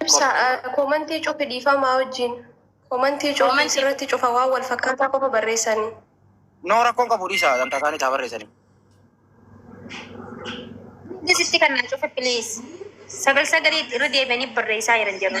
Ibsa koomantii cufi dhiifamaa wajjiin. Koomantii cufi sirratti cufa waan wal fakkaataa qofa barreessanii. No rakkoon qabu dhiisa ganta isaanii taa barreessanii. Hundis itti kan naa cufe please. Sagal sagalii irra deebi'anii barreessaa jiran jedhu.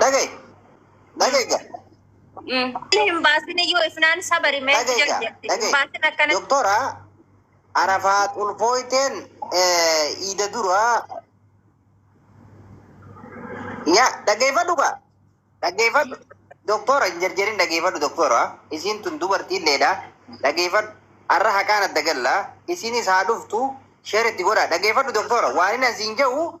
Dhagaye. Dhagaye ga. Hin baasin iyyuu ifnaan sabari mee Dhagaye jedhu ga. jetti. Hin baasin Dhagaye. akkana. Doktora Arafaa Xulfooyteen eh, iida dura yaa dhageeffadhu ga. Dhageeffadhu. Doktora hin jarjarin dhageeffadhu doktora. Isiin tun dubartii illeedha. Dhageeffadhu. Arra haqaan adda galla. Isiinis haa dhuftu. Sheer itti godha. Dhageeffadhu doktora. Waan inni asiin jedhu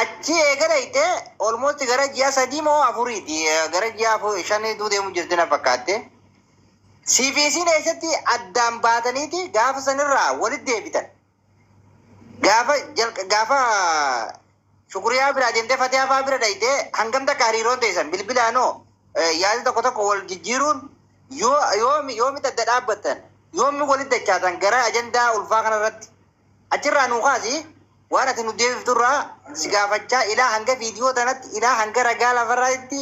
Achii eega dhayxe almost gara ji'a sadii moo afuriiti gara ji'a afur shanii duu deemu jirti na fakkaatte. Siifi isiin eessatti addaan baataniiti gaafa sanirraa walit deebitan. Gaafa jalq gaafa shukuriyaa biraa deemtee fatiyaa faa bira dhayxe hangam takka hariiroon teessan bilbilaanoo yaada tokko tokko wal jijjiiruun yoo yoomi yoomitti adda dhaabbattan yoomi walit dachaatan gara ajandaa ulfaa kanarratti Achirraa nuu kaasi waan ati nu deebifturraa si gaafachaa ilaa hanga viidiyoo tanatti ilaa hanga ragaa lafarraatti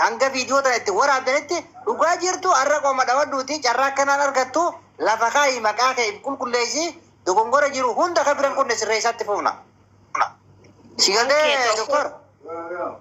hanga viidiyoo tana itti waraabdanitti dhugaa jirtu har'a qoma dhawadhuuti carraa akkanaan argattu lafa kaayi maqaa kee if qulqulleessi dogongora jiru hunda ka biran qunne sirreessaatti fuufna. Si Okkee galee tokko. doktor?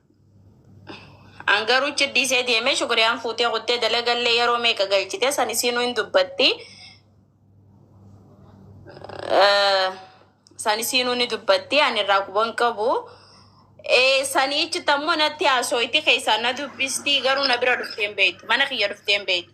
An garuu ichi dhiisee deemee shukuriyaan fuutee kuttee dalagallee yeroo meeqa galchite san isiinuu hin dubbatti. Eh, San isiinuu ni dubbatti ani irraa quban qabu. Eh, Saniichi tammoo natti haasooyti keessaa na dubbisti garuu na bira dhuftee hin beektu. Mana kiyya dhuftee hin beektu.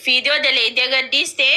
Fiidiyoo daleeydee gaddiistee.